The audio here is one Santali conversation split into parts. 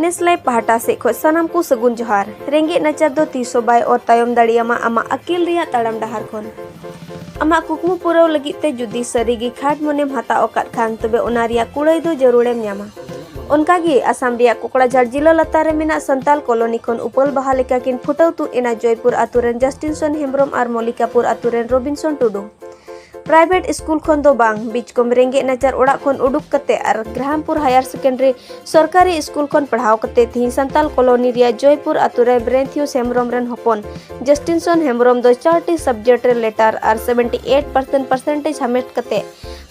ᱱᱮᱥᱞᱮ ᱯᱟᱦᱴᱟ ᱥᱮᱫ ᱠᱷᱚᱱ ᱥᱟᱱᱟᱢ ᱠᱚ ᱥᱟᱹᱜᱩᱱ ᱡᱚᱦᱟᱨ ᱨᱮᱸᱜᱮᱡ ᱱᱟᱪᱟᱨ ᱫᱚ ᱛᱤᱥ ᱦᱚᱸ ᱵᱟᱭ ᱚᱨ ᱛᱟᱭᱚᱢ ᱫᱟᱲᱮᱭᱟᱢᱟ ᱟᱢᱟᱜ ᱟᱹᱠᱤᱞ ᱨᱮᱭᱟᱜ ᱛᱟᱲᱟᱢ ᱰᱟᱦᱟᱨ ᱠᱷᱚᱱ ᱟᱢᱟᱜ ᱠᱩᱠᱢᱩ ᱯᱩᱨᱟᱹᱣ ᱞᱟᱹᱜᱤᱫ ᱛᱮ ᱡᱩᱫᱤ ᱥᱟᱹᱨᱤᱜᱮ ᱠᱷᱟᱴ ᱢᱚᱱᱮᱢ ᱦᱟᱛᱟᱣ ᱟᱠᱟᱫ ᱠᱷᱟᱱ ᱛᱚᱵᱮ ᱚᱱᱟ ᱨᱮᱭᱟᱜ ᱠᱩᱲᱟᱹᱭ ᱫᱚ ᱡᱟᱹᱨᱩᱲᱮᱢ ᱧᱟᱢᱟ ᱚᱱᱠᱟᱜᱮ ᱟᱥᱟᱢ ᱨᱮᱭᱟᱜ ᱠᱚᱠᱲᱟᱡᱷᱟᱲ ᱡᱤᱞᱟᱹ ᱞᱟᱛᱟᱨ ᱨᱮ ᱢᱮᱱᱟᱜ ᱥᱟᱱᱛᱟᱞ ᱠᱚᱞᱚᱱᱤ ᱠᱷᱚᱱ ᱩᱯᱟᱹᱞ ᱵᱟᱦᱟ ᱞᱮᱠᱟ ᱠᱤᱱ ᱯᱷᱩᱴᱟᱹᱣ ᱛᱩᱫ ᱮᱱᱟ ᱡᱚᱭᱯᱩᱨ ᱟᱛᱳ ᱨᱮᱱ ᱡᱟᱥᱴᱤᱱᱥᱚᱱ ᱦᱮᱢᱵᱨᱚᱢ ᱟᱨ ᱢᱚᱞᱤᱠᱟᱯᱩᱨ ᱟᱛᱳ ᱨᱮᱱ ᱨᱚᱵᱤᱱᱥᱚᱱ ᱴᱩᱰᱩ ᱯᱨᱟᱭᱵᱷᱮᱴ ᱥᱠᱩᱞ ᱠᱷᱚᱱ ᱫᱚ ᱵᱟᱝ ᱵᱤᱪᱠᱚᱢ ᱨᱮᱸᱜᱮᱡ ᱱᱟᱪᱟᱨ ᱚᱲᱟᱜ ᱠᱷᱚᱱ ᱩᱰᱩᱠ ᱠᱟᱛᱮ ᱟᱨ ᱜᱨᱟᱦᱟᱢᱯᱩᱨ ᱦᱟᱭᱟᱨ ᱥᱮᱠᱮᱱᱰᱟᱨᱤ ᱥᱚᱨᱠᱟᱨᱤ ᱥᱠᱩᱞ ᱠᱷᱚᱱ ᱯᱟᱲᱦᱟᱣ ᱠᱟᱛᱮ ᱛᱤᱦᱤᱧ ᱥᱟᱱᱛᱟᱞ ᱠᱚᱞᱚᱱᱤ ᱨᱮᱭᱟᱜ ᱡᱚᱭᱯᱩᱨ ᱟᱛᱳ ᱨᱮ ᱵᱨᱮᱱᱛᱷᱤᱭᱩ ᱦᱮᱢᱵᱨᱚᱢ ᱨᱮᱱ ᱦᱚᱯᱚᱱ ᱡᱟᱥᱴᱤᱱᱥᱚᱱ ᱦᱮᱢᱵᱨᱚᱢ ᱫᱚ ᱪᱟᱨᱴᱤ ᱥᱟᱵᱡᱮᱠᱴ ᱨᱮ ᱞᱮᱴᱟᱨ ᱟᱨ 78% ᱯᱟᱨᱥᱮᱱᱴᱮᱡᱽ ᱦᱟᱢᱮᱴ ᱠᱟᱛᱮ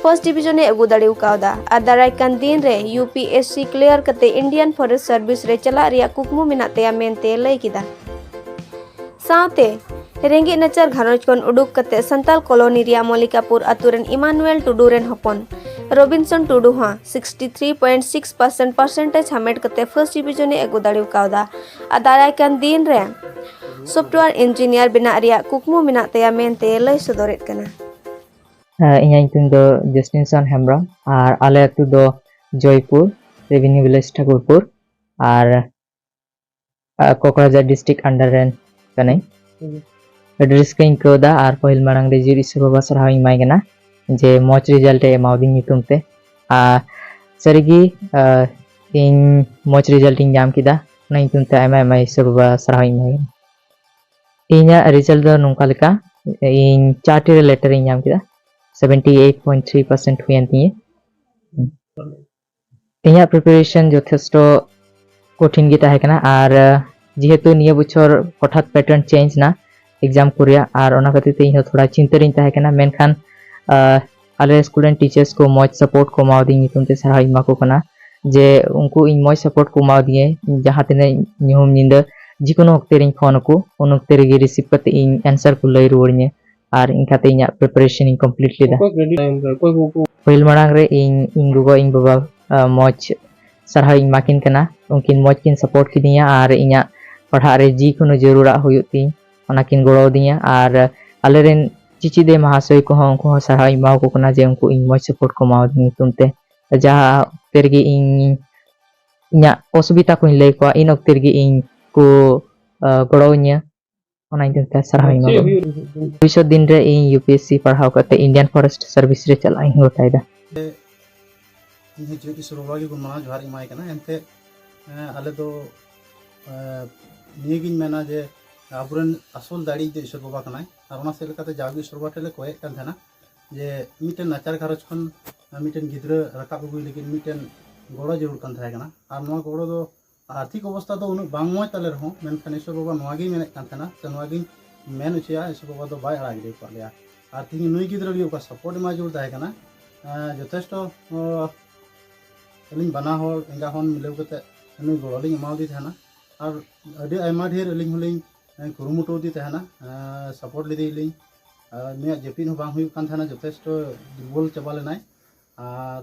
ᱯᱷᱟᱨᱥᱴ ᱰᱤᱵᱤᱡᱚᱱ ᱮ ᱟᱹᱜᱩ ᱫᱟᱲᱮ ᱠᱟᱣᱫᱟ ᱟᱨ ᱫᱟᱨᱟᱭ ᱠᱟᱱ ᱫᱤᱱ ᱨᱮ ᱭᱩᱯᱤᱮᱥᱥᱤ ᱠᱞᱤᱭᱟᱨ ᱠᱟᱛᱮ ᱤᱱᱰᱤᱭᱟᱱ ᱯᱷᱚᱨᱮᱥᱴ ᱥᱟᱨᱵᱷᱤᱥ ᱨᱮ ᱪᱟᱞᱟᱜ ᱨᱮᱭᱟᱜ ᱠᱩᱠᱢᱩ ᱢᱮᱱᱟᱜ ᱛᱟᱭᱟ ᱢᱮᱱᱛᱮ ᱞᱟᱹᱭ ᱠᱮᱫᱟ ᱥᱟᱶᱛᱮ ᱨᱮᱸᱜᱮᱡ ᱱᱟᱪᱟᱨ ᱜᱷᱟᱨᱚᱸᱡᱽ ᱠᱷᱚᱱ ᱩᱰᱩᱠ ᱠᱟᱛᱮ ᱥᱟᱱᱛᱟᱞ ᱠᱚᱞᱚᱱᱤ ᱨᱮᱭᱟᱜ ᱢᱚᱞᱤᱠᱟᱯᱩᱨ ᱟᱛᱳ ᱨᱮᱱ ᱤᱢᱟᱱᱩᱭᱮᱞ ᱴᱩᱰᱩ ᱨᱮᱱ ᱦᱚᱯᱚᱱ ᱨᱚᱵᱤᱱᱥᱚᱱ ᱴᱩᱰᱩ ᱦᱚᱸ 63.6 ᱯᱟᱨᱥᱮᱱᱴ ᱯᱟᱨᱥᱮᱱᱴᱮᱡᱽ ᱦᱟᱢᱮᱴ ᱠᱟᱛᱮ ᱯᱷᱟᱨᱥᱴ ᱰᱤᱵᱷᱤᱡᱚᱱ ᱮ ᱟᱹᱜᱩ ᱫᱟᱲᱮ ᱠᱟᱣᱫᱟ ᱟᱨ ᱫᱟᱨᱟᱭ ᱠᱟᱱ ᱫᱤᱱ ᱨᱮ ᱥᱚᱯᱷᱴᱣᱮᱭᱟᱨ ᱤᱧᱡᱤᱱᱤᱭᱟᱨ ᱵᱮᱱᱟᱜ ᱨᱮᱭᱟᱜ ᱠᱩᱠᱢᱩ ᱢᱮᱱᱟᱜ ᱛᱟᱭᱟ ᱢᱮᱱᱛᱮ ᱞᱟᱹᱭ ᱥᱚᱫᱚᱨᱮᱫ ᱠᱟᱱᱟ ᱤᱧᱟᱹᱜ ᱧᱩᱛᱩᱢ ᱫᱚ ᱡᱮᱥᱴᱤᱱᱥᱚᱱ ᱦᱮᱢᱵᱨᱚᱢ ᱟᱨ ᱟᱞᱮ ᱟᱹᱛᱩ ᱫᱚ ᱡᱚᱭᱯᱩᱨ ᱨᱮᱵᱷᱮᱱᱤᱭᱩ ᱵᱷᱤᱞᱮᱡᱽ ᱴᱷᱟᱠᱩᱨᱯᱩᱨ ᱟᱨ ᱠᱚᱠᱨᱟᱡᱷᱟᱨ ᱰᱤᱥᱴᱨᱤᱠ ᱟᱱᱰᱟᱨ ᱨᱮᱱ ᱠᱟᱹᱱᱟᱹᱧ ᱟᱹᱰᱤ ᱨᱟᱹᱥᱠᱟᱹᱧ ᱟᱹᱭᱠᱟᱹᱣᱫᱟ ᱟᱨ ᱯᱟᱹᱦᱤᱞ ᱢᱟᱲᱟᱝ ᱨᱮ ᱡᱤᱨ ᱤᱥᱩ ᱵᱟᱵᱟ ᱥᱟᱨᱦᱟᱣ ᱤᱧ ᱮᱢᱟᱭ ᱠᱟᱱᱟ ᱡᱮ ᱢᱚᱡᱽ ᱨᱮᱡᱟᱞᱴ ᱮ ᱮᱢᱟᱣᱫᱤᱧ ᱧᱩᱛᱩᱢ ᱛᱮ ᱟᱨ ᱥᱟᱹᱨᱤᱜᱮ ᱤᱧ ᱢᱚᱡᱽ ᱨᱮᱡᱟᱞᱴ ᱤᱧ ᱧᱟᱢ ᱠᱮᱫᱟ ᱚᱱᱟ ᱧᱩᱛᱩᱢ ᱛᱮ ᱟᱭᱢᱟ ᱟᱭᱢᱟ ᱤᱥᱩ ᱵᱟᱵᱟ ᱥᱟᱨᱦᱟᱣ ᱤᱧ ᱮᱢᱟᱭ ᱠᱟᱱᱟ ᱤᱧᱟᱹᱜ ᱨᱮᱡᱟᱞᱴ ᱫᱚ ᱱᱚᱝᱠᱟ ᱞᱮᱠᱟ ᱤᱧ ᱪᱟᱨᱴᱤ ᱨᱮ ᱞᱮᱴᱟᱨ ᱤᱧ ᱧᱟᱢ ᱠᱮᱫᱟ seventy eight point three percent ᱦᱩᱭᱮᱱ ᱛᱤᱧᱟᱹ ᱤᱧᱟᱹᱜ ᱯᱨᱤᱯᱟᱨᱮᱥᱚᱱ ᱡᱚᱛᱷᱮᱥᱴᱚ ᱠᱚᱴᱷᱤᱱ ᱜᱮ ᱛᱟᱦᱮᱸ ᱠᱟᱱᱟ ᱟᱨ ᱡᱮᱦᱮᱛᱩ ᱱᱤᱭᱟᱹ ᱵᱚᱪᱷᱚᱨ ᱦᱚᱴᱟᱛ ᱯᱮᱴᱟᱨᱱ ᱪᱮᱧᱡᱽ ᱮᱱᱟ ᱮᱠᱡᱟᱢ ᱠᱚ ᱨᱮᱭᱟᱜ ᱟᱨ ᱚᱱᱟ ᱠᱷᱟᱹᱛᱤᱨ ᱛᱮ ᱤᱧᱦᱚᱸ ᱛᱷᱚᱲᱟ ᱪᱤᱱᱛᱟᱹ ᱨᱤᱧ ᱛᱟᱦᱮᱸ ᱠᱟᱱᱟ ᱢᱮᱱᱠᱷᱟᱱ ᱟᱞᱮ ᱥᱠᱩᱞ ᱨᱮᱱ ᱴᱤᱪᱟᱨᱥ ᱠᱚ ᱢᱚᱡᱽ ᱥᱟᱯᱳᱨᱴ ᱠᱚ ᱮᱢᱟᱣᱫᱤᱧ ᱧᱩᱛᱩᱢ ᱛᱮ ᱥᱟᱨᱦᱟᱣ ᱤᱧ ᱮᱢᱟ ᱠᱚ ᱠᱟᱱᱟ ᱡᱮ ᱩᱱᱠᱩ ᱤᱧ ᱢᱚᱡᱽ ᱥᱟᱯᱳᱨᱴ ᱠᱚ ᱮᱢᱟᱣᱫᱤᱧᱟᱹ ᱡᱟᱦᱟᱸ ᱛᱤᱱᱟᱹᱜ ᱧᱩᱦᱩᱢ ᱧᱤᱫᱟᱹ ᱡᱮᱠᱳᱱᱳ ᱚᱠᱛᱮ ᱨᱤᱧ ᱯᱷᱳᱱ ᱟᱠᱚ ᱩᱱ ᱚᱠᱛᱮ ᱨᱮᱜᱮ ᱨᱤᱥᱤᱵᱷ ᱠᱟᱛᱮ ᱤᱧ ᱮᱱᱥᱟᱨ ᱠᱚ ᱞᱟᱹᱭ ᱨᱩᱣᱟᱹᱲᱤᱧᱟᱹ ᱟᱨ ᱤᱱᱠᱟᱛᱮ ᱤᱧᱟᱹᱜ ᱯᱨᱤᱯᱟᱨᱮᱥᱚᱱ ᱤᱧ ᱠᱚᱢᱯᱞᱤᱴ ᱞᱮᱫᱟ ᱯᱟᱹᱦᱤᱞ ᱢᱟᱲᱟᱝ ᱨᱮ ᱤᱧ ᱤᱧ ᱜᱚᱜᱚ ᱤᱧ ᱵᱟᱵᱟ ᱢᱚᱡᱽ ᱥᱟᱨᱦᱟᱣ ᱤᱧ ᱮᱢᱟᱠᱤᱱ ᱠᱟᱱᱟ ᱩᱱᱠᱤᱱ ᱢᱚᱡᱽ ᱠᱤᱱ ᱥᱟᱯᱳᱨᱴ ᱠᱤᱫᱤᱧᱟ ᱟᱨ ᱤᱧᱟᱹᱜ ᱯᱟᱲᱦᱟᱜ ᱨᱮ ᱡᱤ ᱠᱳᱱᱳ ᱡᱟᱹᱨᱩᱲᱟᱜ ᱦᱩᱭᱩᱜ ᱛᱤᱧ ᱚᱱᱟ ᱠᱤᱱ ᱜᱚᱲᱚ ᱟᱹᱫᱤᱧᱟ ᱟᱨ ᱟᱞᱮᱨᱮᱱ ᱪᱤᱪᱤᱫᱮ ᱢᱟᱦᱟᱥᱚᱭ ᱠᱚᱦᱚᱸ ᱩᱱᱠᱩ ᱦᱚᱸ ᱥᱟᱨᱦᱟᱣ ᱤᱧ ᱮᱢᱟᱣᱟᱠᱚ ᱠᱟᱱᱟ ᱡᱮ ᱩᱱᱠᱩ ᱤᱧ ᱢᱚᱡᱽ ᱥᱟᱯᱳᱨᱴ ᱠᱚ ᱮᱢᱟᱣᱟᱫᱤᱧ ᱧᱩᱛᱩᱢ ᱛᱮ ᱡᱟᱦᱟᱸ ᱚᱠᱛᱮ ᱨᱮᱜᱮ ᱤᱧ ᱤᱧᱟᱹᱜ ᱚᱥᱩᱵᱤᱫᱷᱟ ᱠᱚᱧ ᱞᱟᱹᱭ ᱠᱚᱣᱟ ᱤᱱ ᱚᱠᱛᱮ ᱨᱮᱜᱮ ᱤᱧ ᱠᱚ ᱜᱚᱲᱚᱣᱟᱹᱧᱟ ᱚᱱᱟ ᱤᱫᱤ ᱠᱟᱛᱮ ᱥᱟᱨᱦᱟᱣ ᱤᱧ ᱮᱢᱟᱢᱟ ᱵᱷᱚᱵᱤᱥᱥᱚᱛ ᱫᱤᱱ ᱨᱮ ᱤᱧ ᱤᱭᱩ ᱯᱤ ᱮᱥ ᱥᱤ ᱯᱟᱲᱦᱟᱣ ᱠᱟᱛᱮ ᱤᱱᱰᱤᱭᱟᱱ ᱯᱷᱚᱨᱮᱥᱴ ᱥᱟᱨᱵᱷᱤᱥ ᱨᱮ ᱪᱟᱞᱟᱜ ᱤᱧ ᱜᱚᱴᱟᱭᱮᱫᱟ ᱤᱧ ᱦᱚᱸ ᱡᱤᱭᱳ ᱯᱤ ᱥᱤ ᱨᱚᱲ ᱜᱮ ᱢᱟᱱᱟᱣ ᱡᱚᱦᱟᱨ ᱤᱧ ᱮᱢᱟᱭ ᱠᱟᱱᱟ ᱮᱱᱛᱮ ᱟᱞᱮ ᱫᱚ ᱱᱤᱭᱟᱹᱜᱤᱧ ᱢᱮᱱᱟ ᱡᱮ ᱟᱵᱚᱨᱮᱱ ᱟᱥᱚᱞ ᱫᱟᱲᱮ ᱫᱚ ᱤᱥᱚᱨ ᱵᱟᱵᱟ ᱠᱟᱱᱟᱭ ᱟᱨ ᱚᱱᱟ ᱥᱮᱫ ᱞᱮᱠᱟᱛᱮ ᱡᱟᱣᱜᱮ ᱤᱥᱚᱨ ᱵᱟᱵᱟ ᱴᱷᱮᱱ ᱞᱮ ᱠᱚᱭᱮᱫ ᱠᱟᱱ ᱛᱟᱦᱮᱱᱟ ᱡᱮ ᱢᱤᱫᱴᱮᱱ ᱱᱟᱪᱟᱨ ᱜᱷᱟᱨᱚᱸᱡᱽ ᱠᱷᱚᱱ ᱢᱤᱫᱴᱮᱱ ᱜᱤᱫᱽᱨᱟᱹ ᱨᱟᱠᱟᱵ ᱟᱹᱜᱩᱭ ᱞᱟᱹᱜᱤᱫ ᱢᱤᱫᱴᱮᱱ ᱜᱚᱲᱚ ᱡᱟᱹᱨᱩᱲ ᱠᱟᱱ ᱛᱟᱦᱮᱸ ᱠᱟᱱᱟ ᱟᱨ ᱱᱚᱣᱟ ᱜᱚᱲᱚ ᱫᱚ ᱟᱨᱛᱷᱤᱠ ᱚᱵᱚᱥᱛᱟ ᱫᱚ ᱩᱱᱟᱹᱜ ᱵᱟᱝ ᱢᱚᱡᱽ ᱛᱟᱞᱮ ᱨᱮᱦᱚᱸ ᱢᱮᱱᱠᱷᱟᱱ ᱤᱥᱚᱨ ᱵᱟᱵᱟ ᱱᱚᱣᱟ ᱜᱮᱭ ᱢᱮᱱᱮᱫ ᱠᱟᱱ ᱛᱟᱦᱮᱱᱟ ᱥᱮ ᱱᱚᱣᱟ ᱜᱮᱧ ᱢᱮᱱ ᱦᱚᱪᱚᱭᱟ ᱤᱥᱚᱨ ᱵᱟᱵᱟ ᱫᱚ ᱵᱟᱭ ᱟᱲᱟᱜ ᱜᱤᱰᱤ ᱟᱠᱟᱫ ᱞᱮᱭᱟ ᱟᱨ ᱛᱮᱦᱮᱧ ᱱᱩᱭ ᱜᱤᱫᱽᱨᱟᱹ ᱞᱟᱹᱜᱤᱫ ᱚᱠᱟ ᱥᱟᱯᱳᱨᱴ ᱮᱢᱟᱭ ᱡᱟᱹᱨᱩᱲ ᱛᱟᱦᱮᱸ ᱠᱟᱱᱟ ᱡᱚᱛᱷᱮᱥᱴᱚ ᱟᱹᱞᱤᱧ ᱵᱟᱱᱟ ᱦᱚᱲ ᱮᱸᱜᱟ ᱦᱚᱱ ᱢᱤᱞᱟᱹᱣ ᱠᱟᱛᱮ ᱩᱱᱤ ᱜᱚᱲᱚ ᱞᱤᱧ ᱮᱢᱟᱣᱟᱫᱮ ᱛᱟᱦᱮᱱᱟ ᱟᱨ ᱟᱹᱰᱤ ᱟᱭᱢᱟ ᱰᱷᱮᱨ ᱟᱹᱞᱤᱧ ᱦᱚᱸᱞᱤᱧ ᱠᱩᱨᱩᱢᱩᱴᱩ ᱟᱫᱮ ᱛᱟᱦᱮᱱᱟ ᱥᱟᱯᱳᱨᱴ ᱞᱮᱫᱮᱭᱟᱞᱤᱧ ᱟᱨ ᱩᱱᱤᱭᱟᱜ ᱡᱟᱹᱯᱤᱫ ᱦᱚᱸ ᱵᱟᱝ ᱦᱩᱭᱩᱜ ᱠᱟᱱ ᱛᱟᱦᱮᱱᱟ ᱡᱚᱛᱷᱮᱥᱴᱚ ᱫᱩᱨᱵᱚᱞ ᱪᱟᱵᱟ ᱞᱮᱱᱟᱭ ᱟᱨ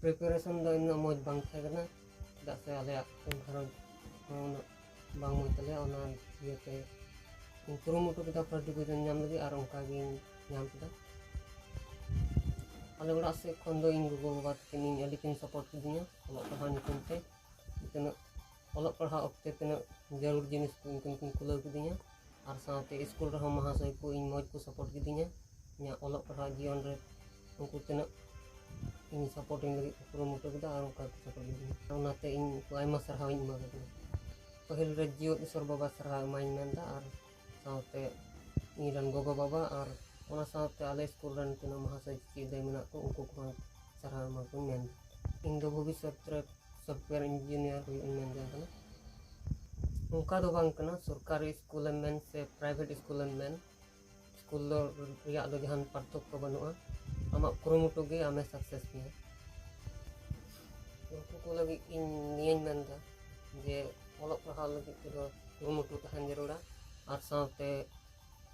ᱯᱨᱤᱯᱟᱨᱮᱥᱚᱱ ᱫᱚ ᱩᱱᱟᱹᱜ ᱢᱚᱡᱽ ᱵᱟᱝ ᱛᱟᱦᱮᱸ ᱠᱟᱱᱟ ᱪᱮᱫᱟᱜ ᱥᱮ ᱟᱞᱮᱭᱟᱜ ᱜᱷᱟᱨᱚᱸᱡᱽ ᱦᱚᱸ ᱩᱱᱟᱹᱜ ᱵᱟᱝ ᱢᱚᱡᱽ ᱛᱟᱞᱮᱭᱟ ᱚᱱᱟ ᱤᱭᱟᱹᱛᱮ ᱤᱧ ᱠᱩᱨᱩᱢᱩᱴᱩ ᱠᱮᱫᱟ ᱯᱷᱟᱥᱴ ᱰᱤᱵᱷᱤᱡᱚᱱ ᱧᱟᱢ ᱞᱟᱹᱜᱤᱫ ᱟᱨ ᱚᱱᱠᱟ ᱜᱤᱧ ᱧᱟᱢ ᱠᱮᱫᱟ ᱟᱞᱮ ᱚᱲᱟᱜ ᱥᱮᱫ ᱠᱷᱚᱱ ᱫᱚ ᱤᱧ ᱜᱚᱜᱚᱼᱵᱟᱵᱟ ᱛᱟᱹᱠᱤᱱ ᱤᱧ ᱟᱹᱰᱤ ᱠᱤᱱ ᱥᱟᱯᱳᱨᱴ ᱠᱤᱫᱤᱧᱟ ᱚᱞᱚᱜ ᱯᱟᱲᱦᱟᱣ ᱧᱩᱛᱩᱢ ᱛᱮ ᱛᱤᱱᱟᱹᱜ ᱚᱞᱚᱜ ᱯᱟᱲᱦᱟᱜ ᱚᱠᱛᱮ ᱛᱤᱱᱟᱹᱜ ᱡᱟᱹᱨᱩᱲ ᱡᱤᱱᱤᱥ ᱠᱚ ᱩᱱᱠᱤᱱ ᱠᱤᱱ ᱠᱩᱞᱟᱹᱣ ᱠᱤᱫᱤᱧᱟ ᱟᱨ ᱥᱟᱶᱛᱮ ᱤᱥᱠᱩᱞ ᱨᱮᱦᱚᱸ ᱢᱚᱦᱟᱥᱚᱭ ᱠᱚ ᱤᱧ ᱢᱚᱡᱽ ᱠᱚ ᱥᱟᱯᱳᱨᱴ ᱠᱤᱫᱤᱧᱟ ᱤᱧᱟᱹᱜ ᱚᱞᱚᱜ ᱯᱟᱲᱦᱟᱜ ᱡᱤᱭᱚᱱ ᱨᱮ ᱩᱱᱠᱩ ᱛᱤᱱᱟᱹᱜ ᱤᱧ ᱥᱟᱯᱳᱨᱴ ᱤᱧ ᱞᱟᱹᱜᱤᱫ ᱠᱚ ᱠᱩᱨᱩᱢᱩᱴᱩ ᱠᱮᱫᱟ ᱟᱨ ᱚᱱᱠᱟ ᱜᱮᱠᱚ ᱥᱟᱯᱳᱨᱴ ᱞᱤᱫᱤᱧᱟ ᱚᱱᱟᱛᱮ ᱤᱧ ᱩᱱᱠᱩ ᱟᱭᱢᱟ ᱥᱟᱨᱦᱟᱣ ᱤᱧ ᱮᱢᱟ ᱠᱚ ᱠᱟᱱᱟ ᱯᱟᱹᱦᱤᱞ ᱨᱮ ᱡᱮᱣᱮᱫ ᱤᱥᱥᱚᱨ ᱵᱟᱵᱟ ᱥᱟᱨᱦᱟᱣ ᱮᱢᱟᱭᱤᱧ ᱢᱮᱱᱫᱟ ᱟᱨ ᱥᱟᱶᱛᱮ ᱤᱧ ᱨᱮᱱ ᱜᱚᱜᱚ ᱵᱟᱵᱟ ᱟᱨ ᱚᱱᱟ ᱥᱟᱶᱛᱮ ᱟᱞᱮ ᱥᱠᱩᱞ ᱨᱮᱱ ᱛᱤᱱᱟᱹᱜ ᱢᱚᱦᱟᱥᱚᱭ ᱪᱮᱫ ᱨᱮ ᱢᱮᱱᱟᱜ ᱠᱚ ᱩᱱᱠᱩ ᱠᱚᱦᱚᱸ ᱥᱟᱨᱦᱟᱣ ᱮᱢᱟ ᱠᱚᱣᱟᱹᱧ ᱢᱮᱱ ᱤᱧ ᱫᱚ ᱵᱷᱚᱵᱤᱥᱥᱚᱛ ᱨᱮ ᱥᱚᱯᱷᱴᱣᱮᱭᱟᱨ ᱤᱧᱡᱤᱱᱤᱭᱟᱨ ᱦᱩᱭᱩᱜ ᱤᱧ ᱢᱮᱱ ᱡᱚᱝ ᱠᱟᱱᱟ ᱚᱱᱠᱟ ᱫᱚ ᱵᱟᱝ ᱠᱟᱱᱟ ᱥᱚᱨᱠᱟᱨᱤ ᱥᱠᱩᱞ ᱮᱢ ᱢᱮᱱ ᱥᱮ ᱯᱨᱟᱭᱵᱷᱮᱴ ᱥᱠᱩᱞ ᱮᱢ ᱢᱮᱱ ᱥᱠᱩᱞ ᱫᱚ ᱨᱮᱭᱟᱜ ᱫᱚ ᱡᱟᱦᱟᱱ ᱯᱟᱨᱛᱷᱚᱠᱠᱚ ᱵᱟᱹᱱᱩᱜᱼᱟ ᱟᱢᱟᱜ ᱠᱩᱨᱩᱢᱩᱴᱩ ᱜᱮ ᱟᱢᱮ ᱥᱟᱠᱥᱮᱥ ᱢᱮᱭᱟ ᱩᱱᱠᱩ ᱠᱚ ᱞᱟᱹᱜᱤᱫ ᱤᱧ ᱱᱤᱭᱟᱹᱧ ᱢᱮᱱᱫᱟ ᱡᱮ ᱚᱞᱚᱜ ᱯᱟᱲᱦᱟᱣ ᱞᱟᱹᱜᱤᱫ ᱛᱮᱫᱚ ᱠᱩᱨᱩᱢᱩᱴᱩ ᱛᱟᱦᱮᱱ ᱡᱟᱹᱨᱩᱲᱟ ᱟᱨ ᱥᱟᱶᱛᱮ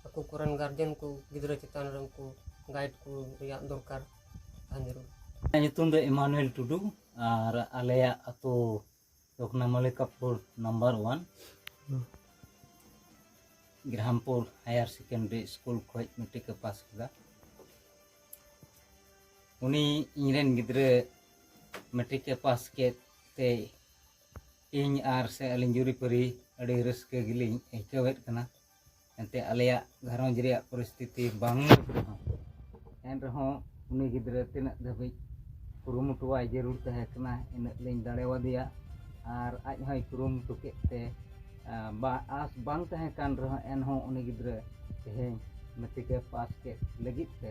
ᱟᱠᱚ ᱠᱚᱨᱮᱱ ᱜᱟᱨᱡᱮᱱ ᱠᱚ ᱜᱤᱫᱽᱨᱟᱹ ᱪᱮᱛᱟᱱ ᱨᱮ ᱩᱱᱠᱩ ᱜᱟᱭᱤᱰ ᱠᱚ ᱨᱮᱭᱟᱜ ᱫᱚᱨᱠᱟᱨ ᱛᱟᱦᱮᱱ ᱡᱟᱹᱨᱩᱲ ᱤᱧᱟᱹᱜ ᱧᱩᱛᱩᱢ ᱫᱚ ᱮᱢᱟᱱᱩᱭᱮᱞ ᱴᱩᱰᱩ ᱟᱨ ᱟᱞᱮᱭᱟᱜ ᱟᱛᱳ ᱫᱚ ᱠᱟᱱᱟ Mallikapur number one Grampur higher secondary school ᱠᱷᱚᱱ ᱢᱮᱴᱨᱤᱠ ᱮ ᱯᱟᱥ ᱠᱮᱫᱟ ᱩᱱᱤ ᱤᱧᱨᱮᱱ ᱜᱤᱫᱽᱨᱟᱹ ᱢᱮᱴᱨᱤᱠ ᱮ ᱯᱟᱥ ᱠᱮᱫ ᱛᱮ ᱤᱧ ᱟᱨ ᱥᱮ ᱟᱹᱞᱤᱧ ᱡᱩᱨᱤᱯᱟᱹᱨᱤ ᱟᱹᱰᱤ ᱨᱟᱹᱥᱠᱟᱹ ᱜᱮᱞᱤᱧ ᱟᱹᱭᱠᱟᱹᱣᱮᱫ ᱠᱟᱱᱟ ᱮᱱᱛᱮ ᱟᱞᱮᱭᱟᱜ ᱜᱷᱟᱨᱚᱸᱡᱽ ᱨᱮᱭᱟᱜ ᱯᱚᱨᱤᱥᱛᱷᱤᱛᱤ ᱵᱟᱝ ᱢᱚᱡᱽ ᱨᱮᱦᱚᱸ ᱮᱱ ᱨᱮᱦᱚᱸ ᱩᱱᱤ ᱜᱤᱫᱽᱨᱟᱹ ᱛᱤᱱᱟᱹᱜ ᱫᱷᱟᱹᱵᱤᱡ ᱠᱩᱨᱩᱢᱩᱴᱩᱣᱟᱭ ᱡᱟᱹᱨᱩᱲ ᱛᱟᱦᱮᱸ ᱠᱟᱱᱟ ᱤᱱᱟᱹᱜ ᱞᱤᱧ ᱫᱟᱲᱮᱣᱟᱫᱮᱭᱟ ᱟᱨ ᱟᱡ ᱦᱚᱸᱭ ᱠᱩᱨᱩᱢᱩᱴᱩ ᱠᱮᱫ ᱛᱮ ᱵᱟ ᱟᱥ ᱵᱟᱝ ᱛᱟᱦᱮᱸ ᱠᱟᱱ ᱨᱮᱦᱚᱸ ᱮᱱᱦᱚᱸ ᱩᱱᱤ ᱜᱤᱫᱽᱨᱟᱹ ᱛᱮᱦᱮᱧ ᱢᱮᱴᱨᱤᱠ ᱮ ᱯᱟᱥ ᱠᱮᱫ ᱞᱟᱹᱜᱤᱫ ᱛᱮ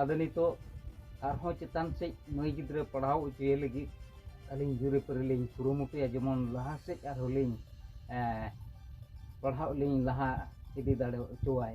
ᱟᱫᱚ ᱱᱤᱛᱚᱜ ᱟᱨᱦᱚᱸ ᱪᱮᱛᱟᱱ ᱥᱮᱫ ᱢᱟᱹᱭ ᱜᱤᱫᱽᱨᱟᱹ ᱯᱟᱲᱦᱟᱣ ᱦᱚᱪᱚᱭᱮ ᱞᱟᱹᱜᱤᱫ ᱟᱹᱞᱤᱧ ᱡᱩᱨᱤᱯᱟᱹᱨᱤ ᱞᱤᱧ ᱠᱩᱨᱩᱢᱩᱴᱩᱭᱟ ᱡᱮᱢᱚᱱ ᱞᱟᱦᱟ ᱥᱮᱫ ᱟᱨᱦᱚᱸ ᱞᱤᱧ ᱯᱟᱲᱦᱟᱜ ᱞᱤᱧ ᱞᱟᱦᱟ ᱤᱫᱤ ᱫᱟᱲᱮ ᱦᱚᱪᱚᱣᱟᱭ